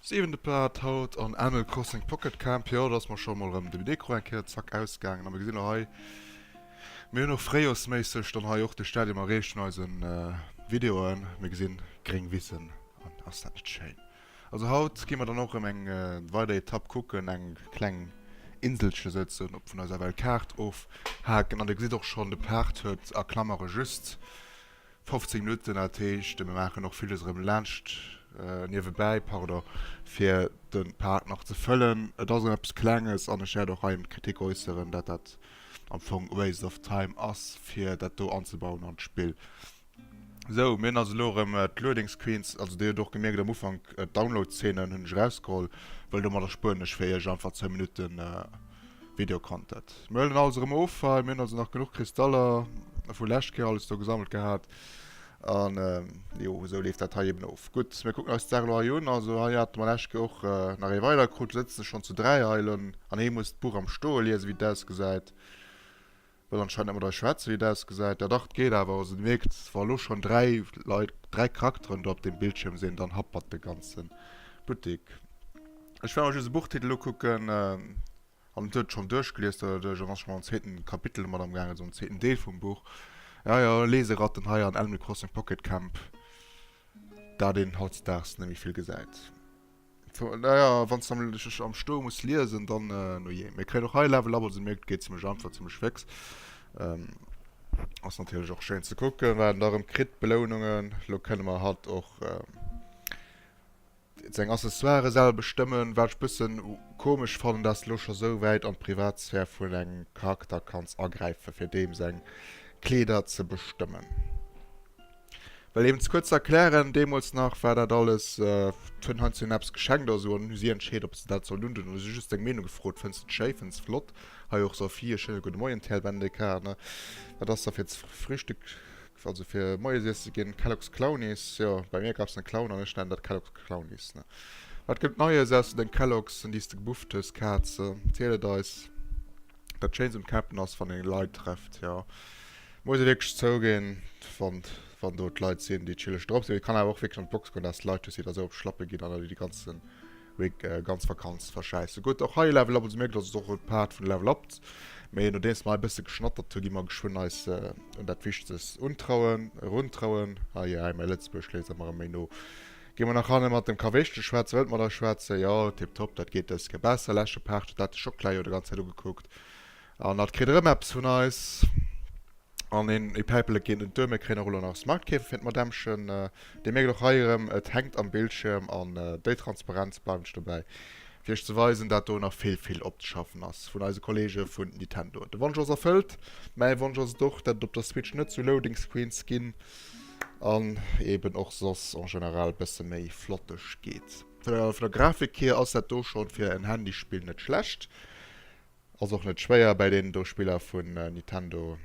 Siwente Plat haut an Animal Crossing Pocket Camp. Jo, do ass mer scho mol rëm de Mikro eng Kéier zack ausgaangen. A mir gesinn och hei, mir hunn och fréijoersméisseg dann hei och de Stadium erreecht vun eise Videoen. Mir gesinn gréng Wissen an ass dat net schéin! Also haut gi mer dann och erëm eng weider Etapp kucken, eng kleng Inselche souzesoen op vun eiser Weltkaart ofhaken. An Dir gesitt och schonn, de Paart huet a Klammere just 15 Minutten. Dat heescht, mir maachen och villes erëm laanscht, niewebäi, pardon, fir de Paart nach ze fëllen. Et ass erëm eppes Klenges an ech wäert och hei d'Kritik äusseren, dat dat am Fong waste of time ass, fir dat do anzebauen an d'Spill. Sou, mir hunn also elo erëm d'Loading Screens, also Dir hutt och gemierkt am Ufank, d'Download-Zeenen hunn ech erausgeholl, well domat erspueren ech fir Iech einfach zwou Minutte Video-Content. Mir huelen alles erëm of hei, mir hunn also nach genuch Kristaller vu lescht Kéier alles do gesammelt gehat. An jo, esou leeft dat hei eben of. Gutt, mir kucken eis d'Saach elo hei un. Also hei hate mer lescht Kéier och nach ee weider krut, lo sëtze se schonn zu dräi hei. An ee muss d'Buch am Stoe liesen, wéi et ausgesäit. Wëll anscheinend net mat eis schwätzen, wéi et ausgesäit. Dat acht geet awer, also Dir mierkt, wa elo schonn dräi Leit, dräi Charakteren do op deem Bildschierm sinn, dann happert de ganze Buttek. Ech war mer just e Buchtitel ukucken, an et huet schonn duerchgelies, dat ass elo schonn am zweeten Kapitel domat amgaangen, also am zweeten Deel vum Buch. Jo, jo, Leseratten hei an Animal Crossing Pocket Camp, dat een hautdesdaags net méi vill gesäit. Naja, wann du nämlech am Stau muss liesen, dann äh, no je. Mir kréien och hei Level up, also merkt, geht ziemlich einfach, ziemlich fix. Ähm, ass natürlich auch schön zu gucken, weil darum kriegt Belohnungen. Lo können wir halt auch ähm, seg Accessoire selber bestimmen, wat ich bisschen komisch fanden, dass du lo schon so weit an Privatsphäre von engem Charakter kannst agreifen, für dem seg Kleider zu bestimmen. Well eben ze kuerz ze erklären, deemools nach war dat alles, d'Fënn hat hinnen eppes geschenkt oder esou an dann hu si entscheet, ob se dat sollen undoen. Hu se just seng Meenung gefrot, Fënns de et schéi? Fënns de et flott? Hei och Sophie, e schéine gudde Moien, TL BNDK, ne? Wat ass da fir ze Frühstück, also fir Moiesiess ze ginn? Kellogs Clownies, jo, bei mir gab es en Clown an ech nennen dat Kellogs Clownies, ne? Wat gëtt et Neies aus de Kellogs, déi s de gebufft hues, Kaze? Ziel et eis! Dat schéinst um Campen ass wann een Leit trefft jo. Muss ee wierklech zouginn wann wann do d'Leit sinn déi chilleg drop sinn. Et kann awer och wierklech an d'Box goen dass Leit hues déi da sou op Schlappe ginn an der déi de ganzen Week ganz Vakanz verschäissen. Gutt och hei Level Up also mierkt dass et och e Part vun Level Up mee nodeems mer hei e bësse geschnattert hu gi mer geschwënn eis un dat Wichtes untrauen eruntrauen. Hei hei mäi Lëtzebuergesch léisst emmer méi no. Gin mer nach hanne mat dem Kaweschtel schwätzen, wëllt mer da schwätzen? Jo, tip top, dat geet dës Kéier besser. Leschte Paart huet dat de Schocklä jo de ganz Zäit ugekuckt an hat kritt erëm eppes vun eis an een e Päipelet ginn. Un d'Dueme kréien och elo nach Smartkäfer fir d'Madämmchen. Dir mierkt och hei erëm, et hänkt am Bildschierm an déi Transparenz bleift ech dobäi, fir iech ze weisen, dat do nach vill, vill opzeschaffen ass vun eise Kollege vun Nintendo. De Wonsch ass erfëllt, mäi Wonsch ass et och, dat et op der Switch net sou Loading Screens ginn. an eben och soss en general bësse méi flotteg geet. Vun der Grafik hier ass dat do schonn fir en Handyspill net schlecht. Ass och net schwéier bäi deenen do Spiller vun Nintendo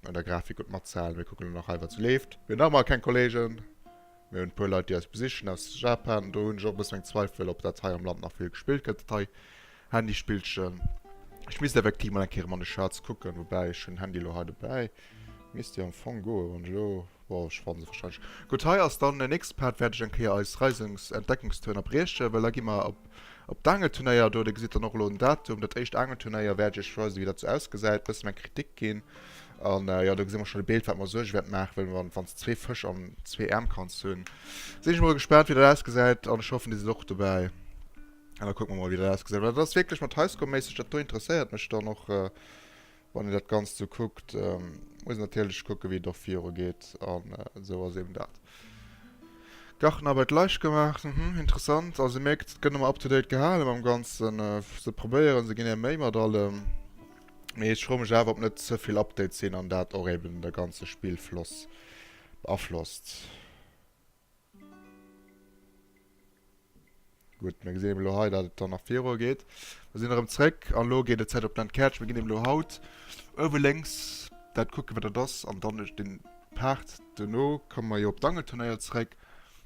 un der Grafik gutt matzehalen. Mir kucken elo nach hei wat sou leeft. Mir hunn nach emol keng Kollegen. Mir hunn e puer Leit déi eis besichen aus Japan. Do hunn ech och e bëssen meng Zweifel op dat hei am Land nach vill gespillt gëtt dat hei. Handyspillchen. Ech misst effektiv mol eng Kéier mam Schatz kucken, woubäi ech hunn Handy elo hei dobäi. Misst jo am Fong goen, wann ech elo, bon ech fanne se wahrscheinlech. Gutt, hei ass dann den nächste Part, wäert ech eng Kéier eis Reisens Entdeckungstour ënnerbriechen, well da gi mer op op d'Angelturnéier do. Dir gesitt dann och elo den Datum. Dat éischt Angelturnéier wäert ech iech weisen, wéi dat sou ausgesäit, bëssen eng Kritik ginn. An jo, do gesi mer schonn e Bild, wat mer Suerge wäert maachen, well wann wann s de zwee Fësch an zwee Äerm kanns hunn, sinn ech mol gespaant, wéi dat ausgesäit. An ech hoffen, dir sidd och dobäi. An da kucke mer mol, wéi dat ausgesäit. Well dat ass wierklech mat Highscore-méisseg, dat do interesséiert mech dann och, wann een dat Ganzt esou kuckt. Muss natierlech kucken, wéi et och viru geet. An esou ass eben dat. Gartenarbeit leicht gemacht, Hm, interessant. Also Dir mierkt, et gëtt ëmmer up-to-date gehale mam Ganzen. Se probéieren, se ginn är Méi mat allem. Mee ech froe mech awer, ob net ze vill Updates sinn an dat och eben de ganze Spillfloss beaflosst. Gutt, mir gesinn eben elo hei, datt et dann nach viru geet. Mir sinn erëm zréck an elo geet et Zäit op d'Enquête. Mir ginn eben elo haut uewe lénks dat kucken, wat dat ass. An dann ech den Part duerno komme mer jo op d'Angelturnéier zréck.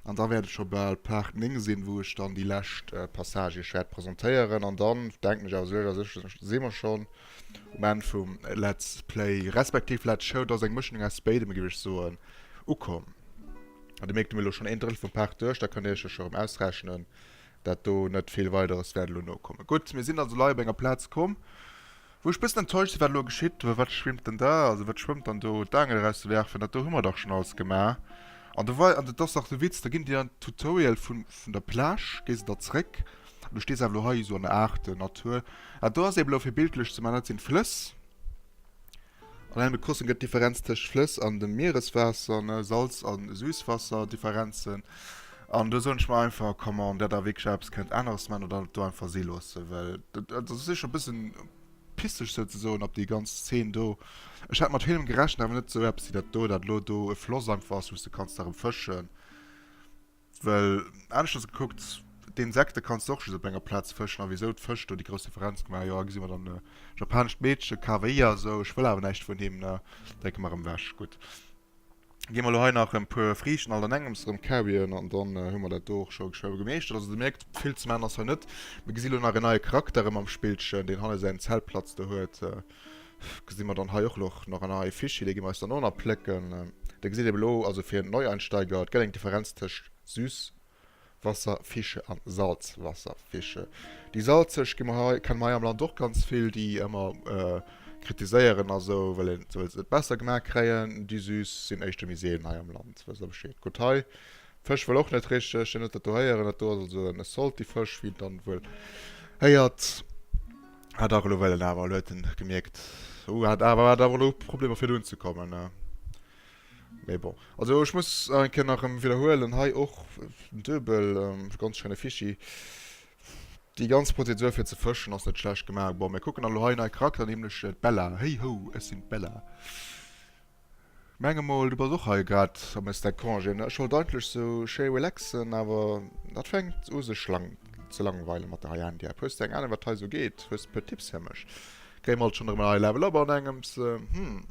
An da wäert et scho bal Part 9 sinn, wou ech dann déi lescht Passage iech wäert presentéieren. An dann denken ech awer, sou léiwer sech, si mer schonn. Um Enn vum Let's Play, respektiv Let's Show, da ass eng Mëschung aus béidem, géif ech soen, ukomm. An Dir mierkt, hu mir elo schonn een Drëttel vum Park duerch, da kënnt Dir Iech jo scho rëm ausrechnen, dat do net vill Weideres wäert elo nokommen. Gutt, mir sinn also lei op enger Plaz komm, wou ech e bëssen enttäuscht sinn, wat elo geschitt. Wat schwimmt dann da, also wat schwëmmt dann do? D'Aangel erauszewerfen, dat do hu mer dach schonn alles gemaach. An do wei, an dat ass dach de Witz, da ginn Dir an d'Tutorial vun der Plage, géi se da zréck. an du stees awer elo hei esou an der aarten Natur, an do ass eben elo fir bildlech ze man, dat sinn d'Flëss. An engem Crossing gëtt d'Differenz tëscht Flëss an dem Miereswaasser, ne, Salz a Süßwasser, Differenzen. An do soen ech mer einfach, come on, dat der wierklech eppes kënnt aneres man oder et do einfach si loosse, well dat dat ass sécher e bëssen pisseg sou ze soen op déi ganz Szene do. Ech hat mat villem gerechent, awer net sou eppes wéi dat do, dat elo do e Floss einfach ass wou s de kanns nach erëm fëschen. Well aneschters gekuckt, d'Insekte kanns de och just op enger Plaz fëschen. A wisou d'Fësch do déi grouss Differenz gemaach? Jo, gesi mer dann e japanescht Meedche, Kawaii a sou. Ech wëll awer näischt vun him, ne? Drécke mer erëm ewech. Gutt, gi mer elo hei nach e puer Friichten alt an engems erëm kauen an dann hu mer dat do och scho geschwë gemeeschtert. Also, Dir mierkt, vill ze maachen ass hei net. Mir gesi lo nach een neie Charakter erëm am Spillchen, deen hanne säin Zeltplatz do huet. Gesi mer dann hei och loch nach an eie Fichier, dee gi mer eis dann och nach plécken. Dir gesitt eben elo, also fir Neueinsteiger, et gëtt eng Differenz tëscht Süßwasserfische an Salzwasserfische. Déi salzeg gi mer hei, kenne mer hei am Land och ganz vill, déi ëmmer kritiséieren a sou, well een, well se et besser gemaach kréien. Déi süß sinn éischter méi seelen hei am Land, wësst der Bescheed. Gutt, hei Fësch wëll och net richteg, déi net dat do héieren. Dat do ass also e Saltyfësch, wéi een dann wuel héiert. Ah dach, elo well en awer, elo huet en gemierkt, oh hat awer, hat awer elo Problemer fir dohin ze kommen, ne? Mee bon, also ech muss nach eng Kéier nach erëm widderhuelen, hei och duebel, ganz schéine Fichi. Déi ganz Prozedur fir ze fëschen ass net schlecht gemaach. Bon, mir kucken elo hei nei Charakteren, nämlech d'Bella. Hey ho, ech sinn d'Bella! Menge mol du bass och hei grad am Estèque Congé ne? Ech wollt eigentlech sou schéi relaxen awer dat fänkt u sech lang ze langweilen mat der hei Andy App. Hues de eng Ahnung wat hei sou geet? Hues puer Tipps fir mech? Game alt schon erëm en hei Level up an engems hm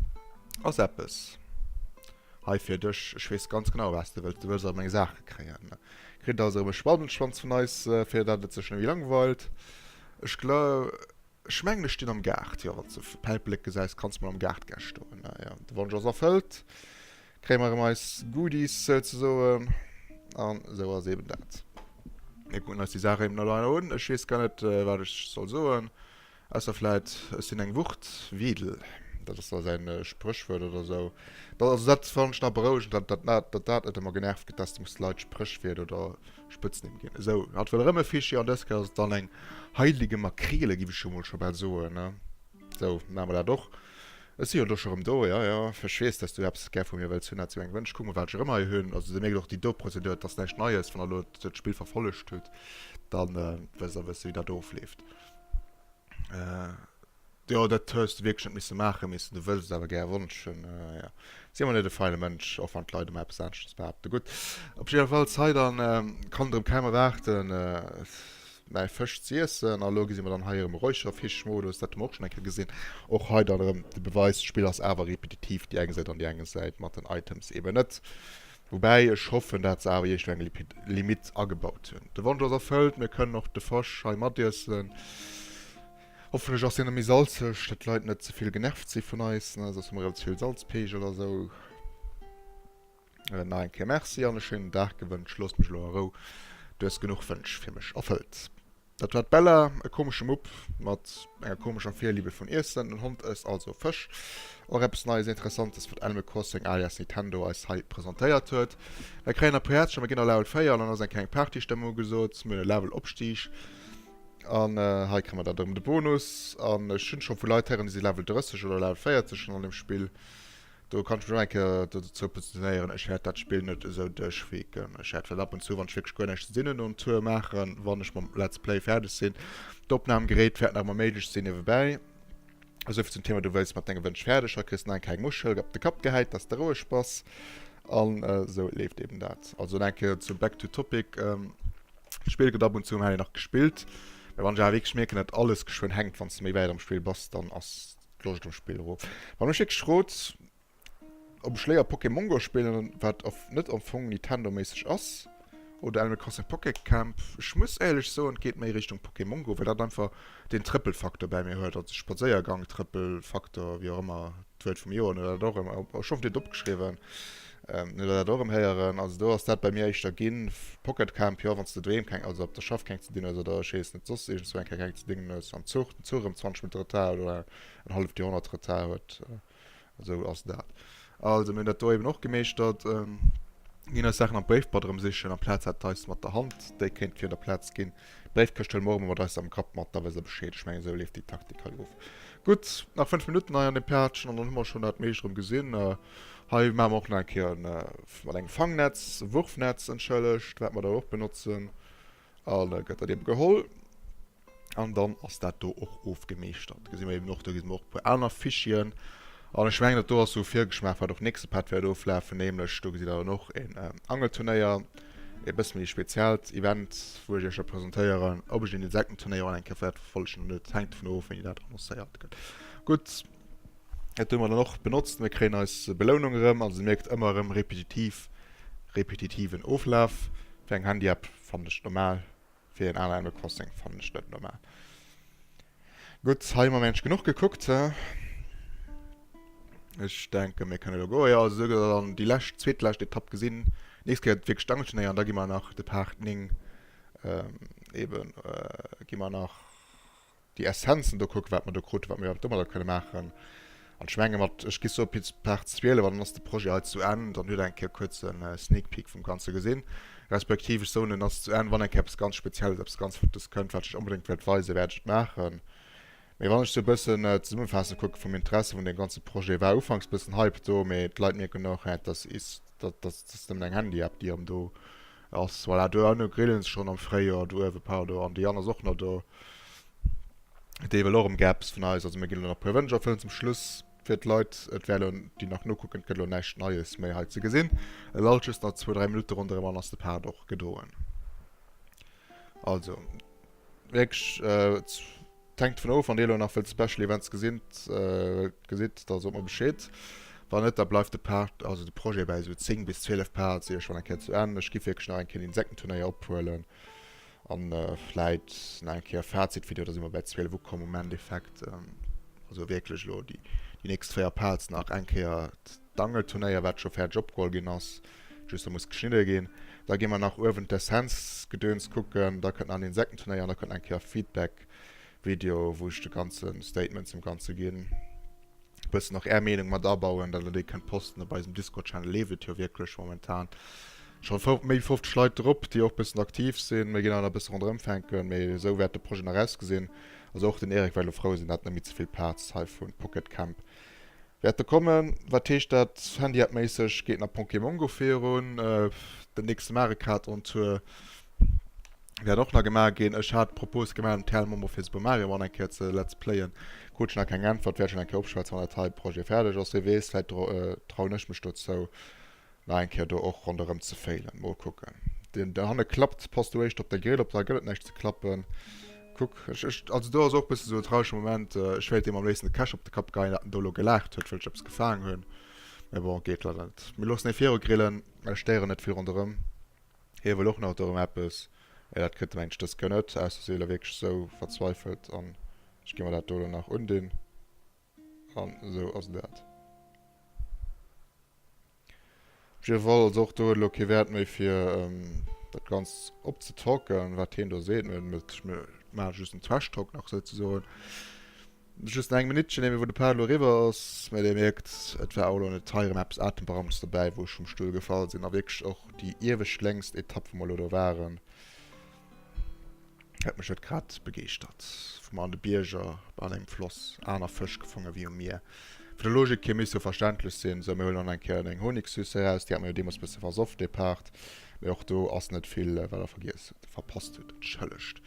ass eppes hei fir dech? Ech wees ganz genau waats de wëlls, du wëlls all meng Saachen kréien. Kritt et also erëm e Spatenschwanz vun eis fir dat et sech ne méi langweilt? Ech gla. Ech mengen ech stinn am Gaart, jo wanns de Päipelek gesäis kanns mol am Gaart gä stoen. Na ja, de Wonsch ass erfëllt, kréie mer erëm eis Goodies souzesoen an esou ass eben dat. Mir kucken eis déi Saach eben elo einer un, ech weess gar net wat ech soll soen, ausser vläit ech sinn eng Wucht, Wedel, dat ass da säin Spréchwuert oder esou. Dat also dat fannen ech nach berouegend, dat dat dat dat net ëmmer genervt gëtt, dass de muss d'Leit Spréchwiert oder Spëtznimm ginn. Esou, hatt wëll erëm e Fischchen, an dës Kéier ass et dann eng heilige Makrele, giff ech jo mol scho bal soen, ne? Esou, maache mer dat och. Ech si jo elo scho erëm do, ja, ja, ech weess, dass s du eppes gär vu mir wëlls hunn, dat si meng Wënsch, kuck mol, wat ech erëm hei hunn. Also, dir mierkt och, déi do Prozedur, et ass näischt Neies, wann der elo dat Spill verfollegt hutt, da wësst der e bësse, wéi dat ofleeft. Jo dat hues de wierklech net misse maachen, mee s de wëlls et awer gär wonschen, jo. Si emmer net e feine Mënsch, och wann d'Leit ëmmer eppes aaneschtes behaapten. Gutt, op jiddefalls hei dann, kann et erëm kaum erwaarden mäi Fësch ze iessen. A lo gesi mer dann hei erëm e Räucherfisch-Modus, dat hu mer och schonn eng Kéier gesinn. Och hei dann erëm de Beweis, d'Spill ass awer repetitiv, déi eng Säit an déi eng Säit mat den Items eben net. Woubäi ech hoffen, dat se awer iergendwéi eng Limit agebaut hunn. De Wonsch ass erfëllt, mir kënnen och de Fësch hei matiessen. Hoffentlech ass deen méi salzeg, dat d'Leit net zevill genervt si vun eis, ne, soss hu mer relativ vill Salzpeegel a sou. Nach eng Kéier Merci an e schéinen Dag gewënscht. Loosst mech elo a Rou, du hues genuch Wënsch fir mech erfëllt. Dat war d'Bella, e komesche Mupp mat enger komescher Virliebe vun Iessen. Den Hond ësst also Fësch, och eppes Neies an Interessantes, wat Animal Crossing alias Nintendo eis hei presentéiert huet. Mir kréien e puer Häerzcher, mir ginn a Level 4 an dann ass eng kleng Partystëmmung ugesot. Mir hunn e Level Opstig. An hei kréie mer dat erëm, de Bonus. An ech hunn scho vu Leit héieren, déi si Level 30 oder Level 40 schonn an deem Spill. Do kann ech mech och eng Kéier dozou positionéieren. Ech wäert dat Spill net esou duerchweken. Ech wäert vläicht ab und zu, wann ech wierklech guer näischt ze dinn hunn, en Tour maachen, wann ech mam Let's Play fäerdeg sinn. D'Opnamgeréit wäert nach ëmmer méiglech sinn niewebäi. Esouvill zum Thema, du wéils mat denge Wënsch fäerdeg, haut kriss de nach eng keng Muschel op de Kapp gehäit, dass de roueg bass. An esou leeft eeben dat. Also nach eng Kéier zum Back to Topic. D'Spill gëtt ab und zu um Handy nach gespillt, mä wann ech awer wierklech mierken, datt alles geschwënn hänkt, wann s de méi wäit am Spill bass, dann ass d'Loscht um Spill erof. Wann mech wierklech frot, ob ech léier Pokémon Go spillen, wat net am Fong Nintendo-méisseg ass, oder Animal Crossing Pocket Camp, ech muss éierlech soen, et geet méi Richtung Pokémon Go, well dat einfach deen Trëppelfaktor bäi mir huet, also Spadséiergang-Trëppelfaktor, wéi och ëmmer d'Wuert vum Joer, oder dat och ëmmer, ech hoffen, dir hutt et opgeschriwwen. Net dat och erëm héieren. Also do ass dat bei mir éischter ginn. Pocket Camp, jo wann s de doheem keng, also op der Schaff keng ze dinn hues oder ech weess net, soss iergendzwou eng Kéier keng ze dingen hues, am Zuch, den Zuch erëm 20 Minutte Retard huet oder en halleft Joerhonnert Retard huet, esou ass dat. Also mir hunn dat do eben och gemeeschtert, ginn eis Saachen am Wavepad erëmsichen, amplaz hat d'Eis mat der Hand déi kéint virun der Plaz ginn. Bréifkëschtel morgen mat eis am Kapp mat, da wëss e Bescheed. Ech mengen, esou leeft déi Taktik hei of. Gutt, nach 5 Minutten hei an dem Päertchen an dann hu mer schonn dat meescht erëm gesinn. Hei maache mer och nach eng Kéier e, mat engem Fangnetz, e Wurfnetz, entschëllegt, wat mer da och benotzen. A gëtt dat ebe geholl an dann ass dat do och ofgemeeschtert. Gesi mer eeben och, do gesi mer och e puer aner Fichieren. An ech mengen, dat do ass esou e Virgeschmaach, wat och nächste Part wäert oflafen, nämlech do gesitt Der dann och een Angelturnéier, e bësse méi speziellt Event, wou ech Iech da presentéieren, ob ech den Insektenturnéier och eng Kéier wäert verfollegen oder net, hänkt dovun of, wéini dat annoncéiert gëtt. Gutt, dat hu mer dann och benotzt. Mir kréien eis Belounung erëm. Also Dir mierkt, ëmmer erëm repetitiv, repetitiven Oflaf. Fir eng Handyapp fannen ech et normal. Fir een Al Animal Crossing fannen ech net normal. Gutt, hei hu mer meng ech genuch gekuckt. Ech denken mir kënne lo goen. Jo, also esou gëtt dann déi lescht, zweetlescht Etapp gesinn. Nächst Kéier gëtt et wierklech d'Angelschnee an da gi mer nach de Part 9 eben, gi mer nach. déi Essenzen do kucken, wat mer do kruten, wat mir domadder kënne maachen. An ech menge mat, ech gi sou Piz, Par 12 an dann ass de Projet hei zu Enn. Dann hutt Der eng Kéier kuerz e Sneak Peek vum Ganze gesinn, respektiv ech soen, en ass zu Enn. Wann eng Kéier eppes ganz Spezielles, eppes ganz Flottes kënnt, wat ech Iech onbedéngt wëllt weisen, wäert ech et maachen. Mee wann ech sou e bëssen zesummefaasse kucken, vum Interesse vun deem ganze Projet, war ufanks e bëssen Hype do, mee d'Leit mierken och, Hä, dat ass, dat ass nëmmen eng Handy-App, déi erëm do Ass voilà do an do grillen se schonn am Fréijoer do uewe pardon an déi aner ass och nach do dee wëll och erëm gär eppes vun eis also mir ginn elo nach e puer Wënsch erfëllen zum Schluss fir d'Leit et wär elo déi nach nokucken et gëtt elo näischt Neies méi hei ze gesinn et alt just nach zwou dräi Minutte ronderëm an dann ass de Part och gedoen also wierklech. 't hänkt dovun of wann dir elo nach wëllt Special Events gesinn gesitt da sot mer Bescheed, wann net da bleift de Part, also de Projet bäi esou 10 bis 12 Parts ier ech wann eng Kéier zu Enn. Ech giff wierklech nach eng Kéier den Insektenturnéier ophuelen an vläit nach eng Kéier Fazitvideo, da si mer bäi 12 ukomm am Endeffekt, also wierklech elo déi nächst 4 Parts nach eng Kéier. D'Angelturnéier, wat scho fäerdeg opgeholl ginn ass, just da muss geschnidde ginn. Da gi mer nach uewen d'Essenzgedöns kucken, da kënnt nach en Insektenturnéier an da kënnt nach eng Kéier Feedbackvideo, wou ech de ganze Statement zum Ganze ginn, e bëssen och Är Meenung mat abauen, dat Der déi kënnt posten. Op eisem Discord-Channel leeft et jo wierklech momentan scho méi wéi 50 Leit drop, déi och e bëssen aktiv sinn. Mir ginn awer nach e bësse ronderëmfänken, mee esou wäert de Projet nach ausgesinn. Also och den Eric wäert elo frou sinn, dat net méi ze vill Plaz hei vu Pocket Camp Wäert e kommen? Wat heescht dat Handy-App-méisseg? Geet nach Ponkemon Go virun? Den nächste Mario Kart on Tour wäert och nach gemaach ginn. Ech hat d'Propos gemaach, den TL Momo fir Super Mario Run eng Kéier ze Let's Playen. Krut ech nach keng Äntwert. Wäert ech nach eng Kéier opschwätzen, wann dat hei Projet fäerdeg ass. Wie weess, vläit trauen ech mech dozou. Nach eng Kéier do och ronderëm ze féilen. Mol kucken. Deen do hanne klappt. Pass do éischt op de Grill op, da gëtt et näischt ze klappen. Kuck. Ech, ech, also do ass och e bësse sou e traurege Moment. Ech wéilt deem am léifsten de Cache op de Kapp geien, dat en do elo gelaacht huet, wëll ech eppes gefaang hunn. Mä bon, geet leider net. Mir loossen hee viru grillen. Ech stéieren net vill ronderëm. Hie wëll och nach dorëm eppes. Mä dat kritt e mengen ech dës Kéier net, ausser si si elo wierklech sou verzweifelt an ech gi mer dat do elo nach undinn. An esou ass dat. Op jidde Fall, also och do huet elo kee Wäert méi fir dat Ganzt op ze talken, wat hien do seet. Mir maache just en Trash Talk nach souzesoen. Just nach eng Minuttchen, éier wou de Part elo eriwwer ass. Mä Dir mierkt, et war och elo net hei erëm eppes Atemberamtes dobäi, wou ech vum Stull gefall sinn a wierklech och déi iewescht längst Etapp, wou mer elo do waren, Huet mech huet grad begeeschtert. Vu mer an de Bierger, bei allengem Floss, aner Fësch gefonge wéi um Mier. Vun der Logik hier misst jo verständlech sinn. Sou, mir huelen an eng Kéier eng Honigsüss eraus. Déi hat mer jo deemools bësse versoff, dee Part. Mee och do ass net vill, wat der vergiess hutt, verpasst hutt. Entschëllegt.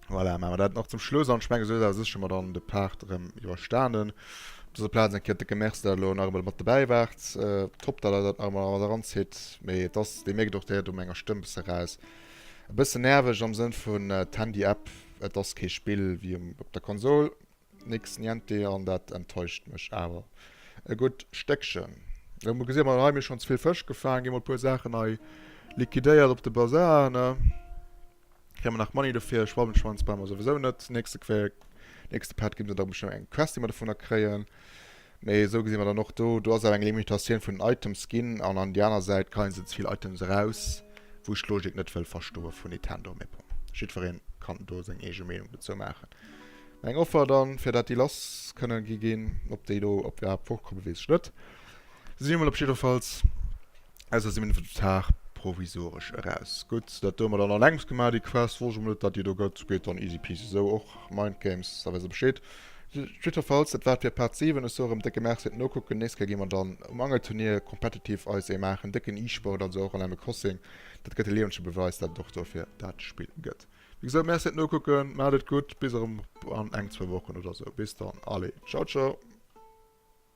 Voilà, maache mer dat nach zum Schluss an. Ech menge sou ass awer sécher mer dann de Part erëm iwwerstanen. Op dëser Plaz eng Kéier décke Merci, dat der elo nach eemol mat dobäi waart. Top, dat der dat nach eemol mat eranzitt. Mee et ass, Dir mierkt och, Dir héiert u menger Stëmm e bësse raus, e bësse nerveg am Sënn vun d'Handy-App, et ass kee Spill wéi um op der Konsol, nix niente. An dat enttäuscht mech awer e gutt Stéckchen. Lo gesi mer, hei hu mir schonn ze vill Fësch gefaangen, gi mol e puer Saachen hei liquidéiert op de Bazar, ne? Kréie mer nach Money dofir? Schwammenschwanz brauche mer souwisou net. Nächste Quer, nächste Part ginn se da bestimmt eng Quest, déi mer dovunner kréien. Mee esou gesi mer dann och do, do ass awer eng Limitatioun vun den Items ginn. An an déi aner Säit kreien se ze vill Items eraus, wou ech d'Logik net wëll verstoe vun Nintendo. Mee bon, jiddweree kann do seng eege Meenung dozou maachen. Mä eng Offer dann, fir dat déi lass kënnen gi ginn. Ob déi elo, ob déi iwwerhaapt fortkomme weess ech net. Si emol op jiddefalls aus eisem Inventar provisoresch eraus. Gutt, dat hu mer dann allengst gemaach, déi Quest. Wosst ech emol net, datt déi do gëtt. Geet dann easy peasy esou och. Mind Games, da weess Der Bescheed. Jiddefalls, dat war et fir Part 7. Ech soe erëm décke Merci fir d'Nokucken. Nächst Kéier gi mer dann um Angelturnier competitive eis ee maachen. Décken e-Sport, also och Animal Crossing. Dat gëtt e liewege Beweis, datt et och dofir dat Spill gëtt. Wéi gesot, Merci fir d'Nokucken. Maacht et gutt. Bis erëm an eng, zwou Wochen oder esou. Bis dann. Allez, ciao ciao.